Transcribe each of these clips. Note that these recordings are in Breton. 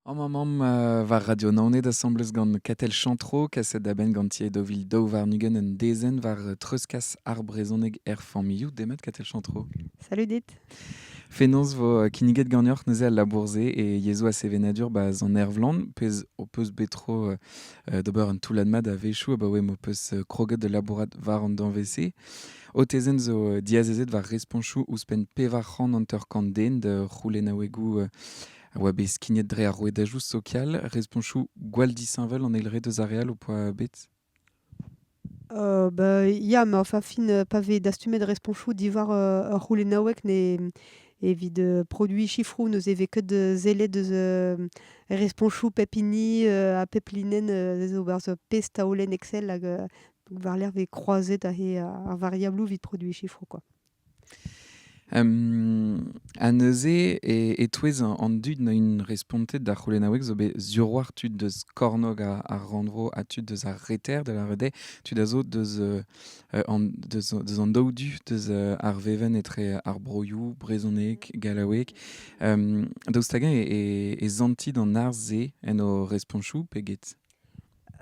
Amañ mamm euh, war Radio Naoned asambles gant Katel Chantreau, kaset da benn gant tier dovil daou warn-ugent un dezenn war euh, treuzkas ar brezhoneg er familhoù. Demat Katel Chantreau. Salut dit. Fenoz vo euh, kinniget ganeoc'h neuze al labourzé et yezho a sevenadur ba an ervlan, pez o peus bet tro euh, d'ober un toullad mat a-wechoù abaoe m'o peus euh, kroget da labourat war an danvez-se. O tezenn zo euh, diazezet war responchoù ouzhpenn pevar c'hant hanter-kant den da c'houlennaouegoù euh, a oa bet skignet dre ar rouedajoù sokial respontoù gwall disheñvel an eilred eus ar re all ho poa bet Euh, bah, ya, mais enfin, fin, euh, pa vez dastumet responsoù diwar euh, ur c'houlennaoueg ne evit euh, produiñ chiffroù n'eus evez ket euh, sellet eus euh, responsoù pep hini euh, ha pep linenn euh, zo barzh ur pezh taolenn Excel hag euh, donc war-lerc'h vez kroazet ar, ar variabloù evit produiñ chiffroù quoi. Ha neuze e-touez an dud 'n oint respontet d'ar c'houlennaoueg zo bet zivc'hoar tud deus kornôg ar rannvro ha tud deus ar reter, da lâret eo, tud a zo deus an deus deus an daou du deus ar vevenn etre ar broioù brezhoneg, gallaoueg. daoust hag-eñ e santi d'an arz-se en o respoñsoù pe get?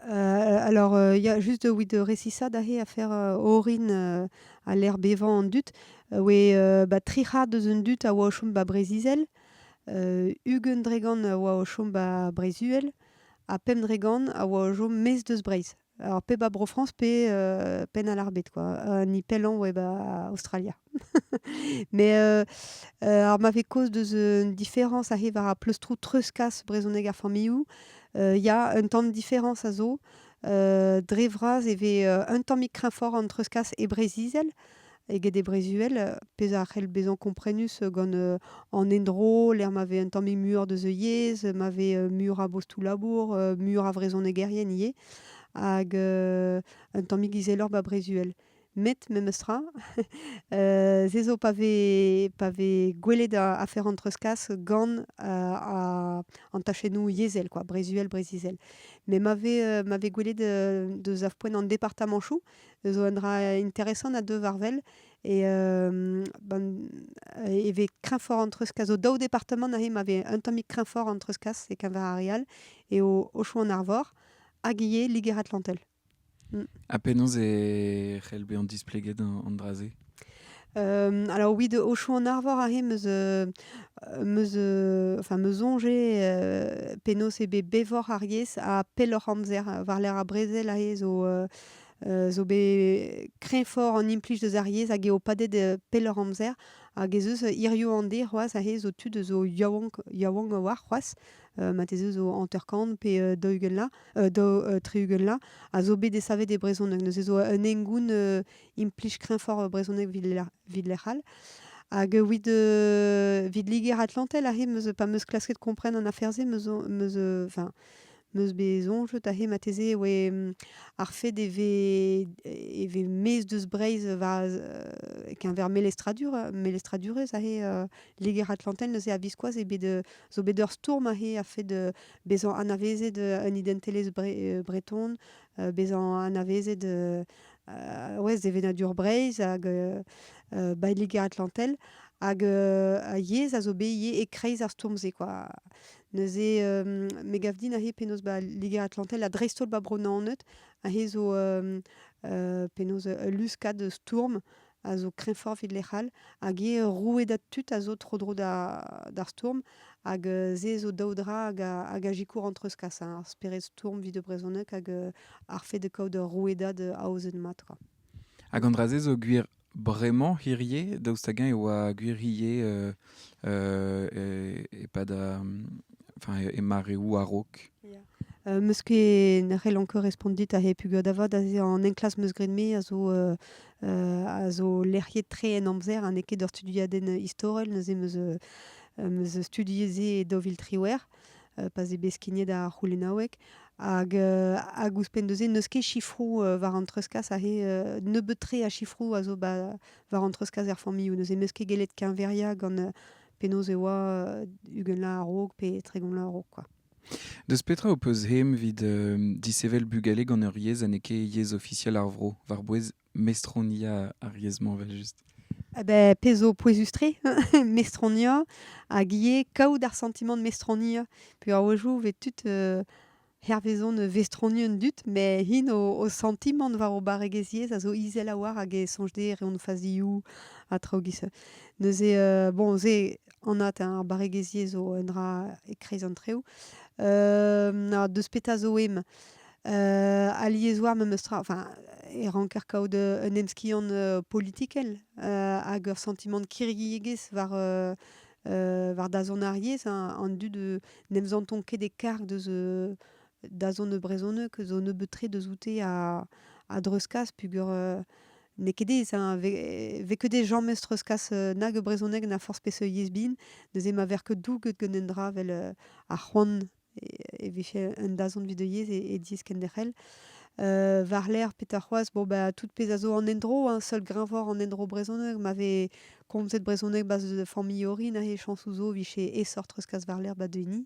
Heu, alors, heu, il y a juste oui de recissade ahe a fer, heu, orin, heu, a lec'h bevañ an dud. Oe, heu, ba tri c'hard eus an dud a oa o chom ba Breziz-Izel, heu, ugent dregont a oa o chom ba Brez-Uhel ha pemp dregont a oa o chom maez deus Breizh. Alors pe ba Bro-Frañs pe, heu, Penn-al-Arbed quoi, ha ni pellañ oe ba Aostralia. Mais heu, heu, alors m'avait cause deus une différence arrive ar pleustro treuzkas brezhoneg ar familhoù. Heu, il y a un tamm différence a zo. Heu, dre vras e vez, heu, un tammig kreñfoc'h an treuzkas e Breizh-Izel eget e Breizh-Uhel, heu, pezh a c'hell bezañ komprenus gant, heu, an endro, lec'h ma vez un tammig muioc'h deus e yezh, ma vez, heu, muioc'h a bostoù-labour, heu, muioc'h a vrezhonegerien ivez. Hag, heu, un tammig izeloc'h 'ba Breizh-Uhel. met memestra, euh, se zo pa vez, pa vez gwelet afer an treuzkas gant euh, an tachennoù yezhel, quoi, brezuel, brezizel. Mais ma euh, m'avait gwelet de poen en département chou, zo un dra intéressant à deux varvel, et euh, ben, e ve kreñfort an treuzkas zo daou département nahe ma ve un tammig kreñfort an treuzkas e Keñvar Arial et au, au Chou en Arvor, hag ivez Liger-Atlantel. Ha penaos e c'hell bezañ displeget an dra-se? alors oui, de Auchon-en-Arvor aze meus euh, meus euh, enfin meus soñjet euh, penaos eo bet bevoc'h ar yezh ha pelloc'h amzer war-lerc'h ar brezel aze zo euh, zo bet kreñvoc'h an implij deus ar yezh hag eo padet euh, pelloc'h amzer hag ez eus hiriv an deiz c'hoazh aze zo tud zo yaouank yaouank a-walc'h c'hoazh mateze zo hanter-kant pe daou-ugent la, daou, tri-ugent la, a zo bet desavet e brezhoneg. Neuze zo un hengoun implij kreñvoc'h brezhoneg vid lec'h all. Hag evit evit Liger-Atlantel aze meus pa meus klasket kompren an afer-se meus meus enfin meus bet soñjet aze marteze e oe ar fed e vez e vez maez deus Breizh war e-keñver melestradur melestradurezh aze Liger-Atlantel neuze a-viskoazh eo bet euh, zo bet ur stourm ahe a-fed euh, bezañ anavezet un identelezh breton, bezañ anavezet ouais, sevenadur Breizh hag ba Liger-Atlantel. Hag a yezh a zo bet ivez e-kreiz ar stourm-se quoi. Neuze euh, me gav din ahe penaos ba Liger-Atlantel ha dreist-holl ba Bro-Naoned ahe zo euh, penaos ul luskad stourm a zo kreñfoc'h evit lec'h all, hag eo rouedad tud a zo tro-dro d'ar stourm, hag se zo daou dra hag a zikour an treuzkas, hein, ar spered stourm evit e brezhoneg hag ar fait de kaout ur rouedad aozet mat. Hag an dra-se zo gwir bremañ hirie, daoust hag-eñ e oa gwir hirie euh, euh, e-pad enfin, e mareoù a-raok? Euh, meus ket ne c'hell anker respont dit a he pugur da vat aze an enklas meus graet me a zo euh, a zo lec'hiet-tre en amzer ha n'eo ket ur studiadenn istorel neuze meus meus studiet se e daou vil triwec'h pa 'z eo bet skignet ar c'houlennaoueg hag hag ouzhpenn neuze n'eus ket sifroù war an treuzkas aze nebeut-tre a sifroù a zo ba war an treuzkas er familhoù neuze meus ket gellet keñveriañ gant penaos e oa ugentlañ a-raok pe tregont laz a-raok quoi. Deus petra ho peus aem evit disheñvel bugale gant ur yezh ha n'eo ket yezh ofisiel ar vro war-bouez mestroniañ ar yezh-mañ evel-just? Beh pezh zo pouezus-tre mestroniañ hag ivez kaout ar santimant mestroniañ peurvoajoù 'vez tud hervez on vestroniñ an dud met hin o santimant war o barregezh yezh a zo izel a-walc'h hag e soñj dezhe reont o fazioù ha traoù 'giz-se. Neuze bon se Anat, hein, ar barregezhi zo un dra e-kreiz an treoù. na deus petra zo em? alies oa memes tra, enfin, e ranker kaout un emskiant politikel hag ur santimant kirriegezh war war dazont ar yezh, an dud n'em santon ket e karg deus dazont e brezhoneg zo nebeut-tre deus oute a a dreuzkas peogwir n'eo ket aes hein, 'vez ket aes james treuzkas nag e brezhoneg na forzh peseurt yezh bin, neuze ma vêr ket douget gant un dra 'vel ar c'hoant e vije un dazont 'vit o yezh e diez kenderc'hel. war-lerc'h petra c'hoazh bon bah tout pezh a zo an endro hein, seul greñvor an endro brezhoneg ma vez komzet brezhoneg 'ba familh orin aze chañsoù zo 'vije aesoc'h treuzkas war-lerc'h 'ba denis.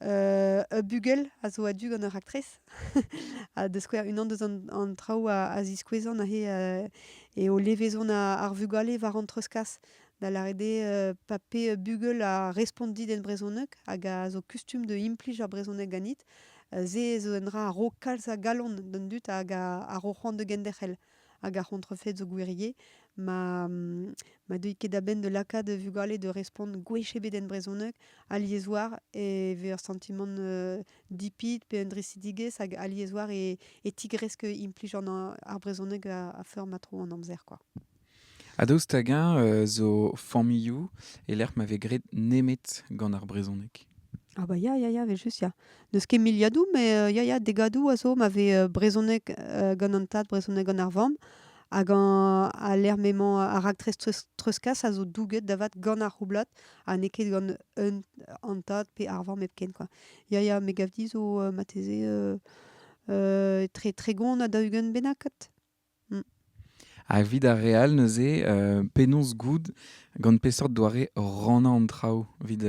ur bugel a zo a-du gant ur raktres. ha da skouer, unan deus an, traoù a, ziskouezan aze eo levezon ar vugale war an treuzkas. Da lâret eo pa pe bugel a respont dit en brezhoneg hag a zo kustum da implij ar brezhoneg ganit, se zo un dra a ro kalz a galon d'an dud hag a ro c'hoant da genderc'hel. hag ar c'hontrefed zo gwirie, ma, ma deuit ket a-benn da lakaat vugale da respont gwech ebet en brezhoneg alies war e vez ur santimant dipit pe un drisidigezh hag alies war e, e tigresk implij ar brezhoneg a-feur ma tro an amzer, quoi. Ha daoust hag-eñ zo familhoù e-lec'h ma vez graet nemet gant ar brezhoneg ? Ah bah ya, ya, ya, evel-just ya. N'eus ket miliadoù, mais euh, ya, ya, degadoù a zo ma vez euh, brezhoneg euh, gant an tad, brezhoneg gant ar vamm. Hag an- al lec'h m'emañ ar raktres treus- treuzkas a zo douget da vat gant ar c'houblad ha n'eo ket gant un- an tad pe ar vamm hepken kwa. Ya, ya, me gav dit zo euh, marteze euh, euh, tre- tregont ha daou-ugent bennak kat. Ha evit ar re all neuze, penaos goût gant peseurt doare rannañ an traoù evit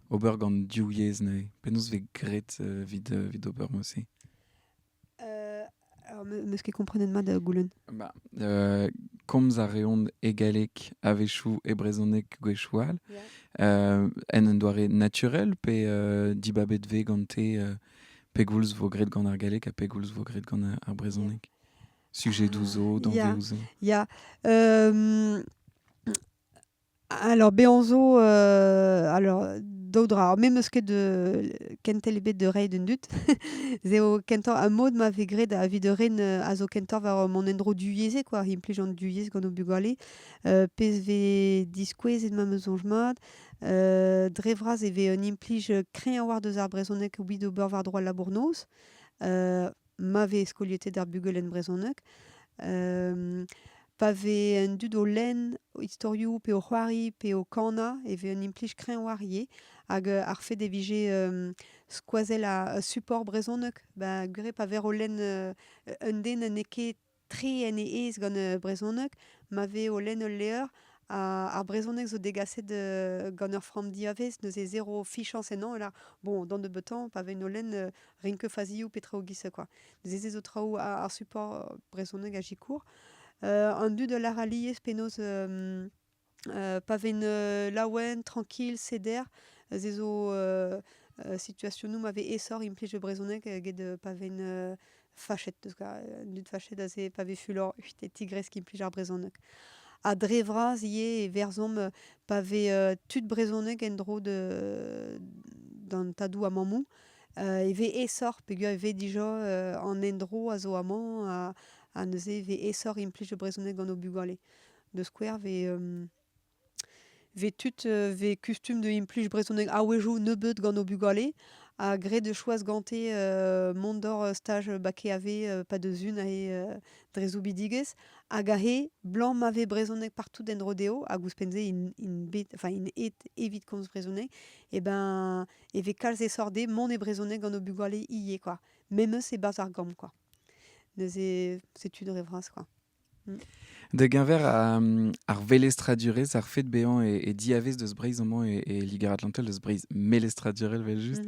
ober gant div yezh neuze penaos vez graet evit evit ober aussi Alors, me, ce qui comprenait de moi de goulenn. Bah, euh, komz a reont e galleg a-wechoù e brezhoneg gwechall. Yeah. Euh, en un doare naturel pe euh, dibabet vez gante euh, pegoulz vo graet gant ar galleg ha pegoulz vo graet gant ar brezhoneg? sujedoù zo, danvezoù zo Ya, ya. Alors, bezañ zo... euh, alors, daou dra. Me 'm eus ket de... kentel ebet da reiñ d'an dud. Ez eo kentoc'h... Ar mod ma vez graet evit ur ren euh, a zo kentoc'h war mon endro duyezhek, war implij an duyezh gant o bugale. Euh, pezh 'vez diskouezet ma mezonj mat. Euh, dre vras e vez un implij kreñv war deus ar brezhoneg, oui, d'ober war droad labour-noz. Euh, ma vez skoliet ar bugel en brezhoneg. pa vez an dud o lenn o istorioù pe o c'hoari pe o kanañ e vez un implij kreñv war ivez. Hag ar fait e vije skoazell ar support brezhoneg, ben gwir eo pa ver o lenn un den n'eo ket tre en e aez gant e brezhoneg, ma vez o lenn ul levr, ar brezhoneg zo degaset gant ur framm diavez, neuze zero fichañs ennañ, e bon, d'an nebeutañ, pa vein o lenn, rin ket fazioù pe traoù giz quoi. Neuze se zo traoù ar support brezhoneg a zikour. an dud a lar alies penaos Pa ven laouen, trankil, seder, se zo situasionoù ma vez aesoc'h implij e brezhoneg get pa ven fachet, deus an dud fachet aze pa vez fulor e tigresk implij ar brezhoneg. Ha dre vras ivez e verzomp pa vez tud brezhoneg en-dro d'an tadoù a mammoù e vez aesoc'h peogwir e vez dija an endro a zo amañ ha neuze e vez aesoc'h implij e brezhoneg gant o bugale. da skouer vez tud vez kustum da implij brezhoneg a-wezhioù nebeut gant o bugale ha graet eo choaz gante mont d'hor staj bac KEAV pa deus un aze dre soubidigezh hag aze 'blam ma vez brezhoneg partout en-dro dezho hag ouzhpenn-se int bet enfin int aet evit komz brezhoneg eh ben e vez kalz esort dezhe mont e brezhoneg gant o bugale ivez quoi memes e-barzh ar gambr quoi neuze c'est une rêve razh quoi Da-geñver ar velestradurezh, ar fed bezañ e diavez deus Breizh amañ e Liger-Atlantel, deus Breizh melestradurel evel-just,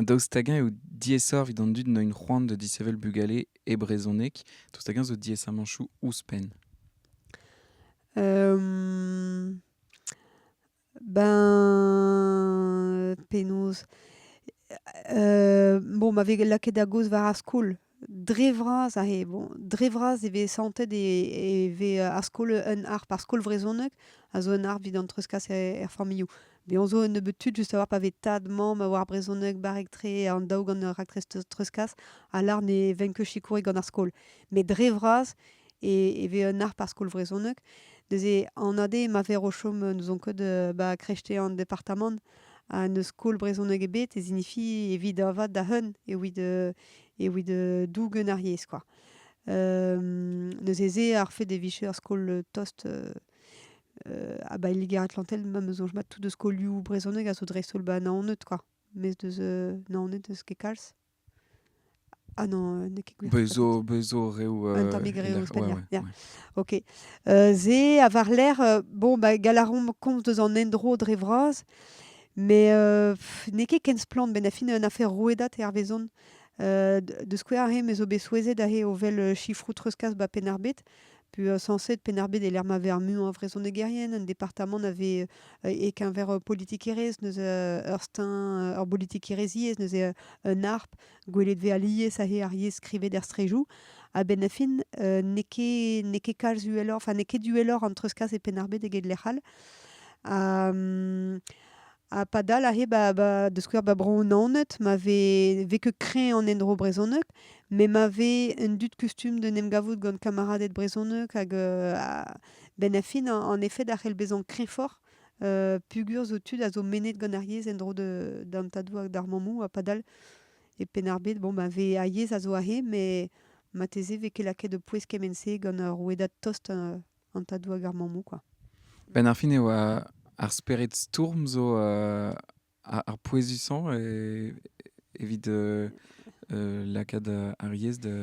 daoust hag-eñ eo diaesoc'h evit an dud n'int c'hoant da disheñvel bugale e brezhoneg, daoust hag-eñ zo diaesamañchoù ouzhpenn? Ben penaos bon ma vez lakaet da gaoz war ar skol dre vras aze bon dre vras e vez santet e vez ar skol un harp ar skol vrezhoneg a zo un harp evit an treuzkas er familhoù bezañ zo un nebeud tud just a-walc'h pa vez tad mamm a oar brezhoneg barrek-tre an daou gant raktres treuzkas a lar ne venk ket sikourek gant ar skol met dre vras e, e vez un arc'h par skol vrezhoneg. Neuze, an ade ma ver o chom n'ouzon ket ba krechte an departamant ha n'eus skol brezhoneg ebet e sinifi evit avat da heun evit evit dougen ar yezh kwa. neuze se ar fait e vije ur skol tost ha ba Liger-Atlantel ma soñj mat tout eus skolioù brezhoneg a zo dreist-holl ba Naoned kwa. Mes deus Naoned n'eus ket kalz. Ah non, n'eo ket gwir. Bez zo, bez zo reoù... Un tammig reoù ouzhpenn, ya. Ok. se a war-lerc'h, bon, bah, Galaron komz deus an endro dre vras, met n'eo ket ken splann. Benn fin, un afer rouedad hervezon. de skouer aze me zo bet souezhet aze o wel chifroù treuzkas ba Penn-ar-Bed. Puis euh, censé Penarbet et ma vers mu en vrezhonegerien, un département avait et qu'un vers politikeres neus ur stein ur politikeresiez neus un harp gwelet ve alies ahe ar yezh skrivet er strejou ha ben fin n'eo ket n'eo ket kalz uheloc'h, enfin n'eo ket uheloc'h an treuzkas e Penarbet eget lec'h all. Ha Ha padal aze, ba, ba, da skouer, ba Bro-Naoned, ma vez, vez ket kreñv an endro brezhoneg, met ma vez un dud kustum d'en em gavout gant kameraded brezhoneg hag euh, a- benn ar fin, en en effet, a c'hell bezañ kreñvoc'h euh, peogwir zo tud a zo mennet gant ar yezh en-dro de- d'an tadoù hag d'ar mammoù, ha padal, e Penn-ar-Bed, bon, bah, vez, ar yezh a zo aze, mais marteze vez ket lakaet o pouez kement-se gant ur rouedad tost euh, an tadou hag ar mammou kwa. Benn ar fin e oa ar spered stourm zo euh, ar, ar pouezusañ e, evit euh, euh, lakaat ar yez da,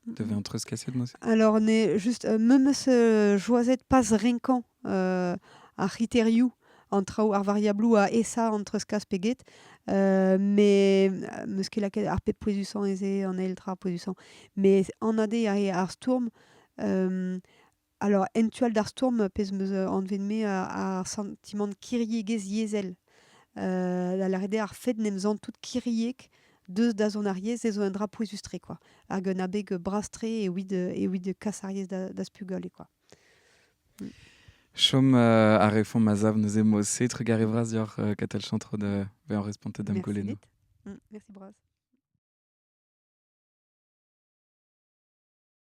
da vezañ treuzkaset noze. Alors, ne just euh, memes euh, joazet pas renkañ euh, ar c'hriteriou an traou ar variablou a esa an treuzkas pe get, euh, mais euh, meus ket lakaet ar pep pouezusañ ez eo an eil tra pouezusañ. Mais anade a rea ar stourm, Alors, en tu all d'ar stourm, pezh 'm eus anvet-me ar santimant kiriegezh yezhel. da lâret eo ar fait n'em zant tout kiriek deus da zont ar yezh ez zo un dra pouezus-tre kwa. Hag un abeg bras-tre ewid ewid kas ar yezh d'az pugale kwa. Chom a refomp a-sav neuze mod-se. Trugarez vras deoc'h Katell Chantreau da vezañ respontet d'am goulennoù. Merci dit. Merci bras.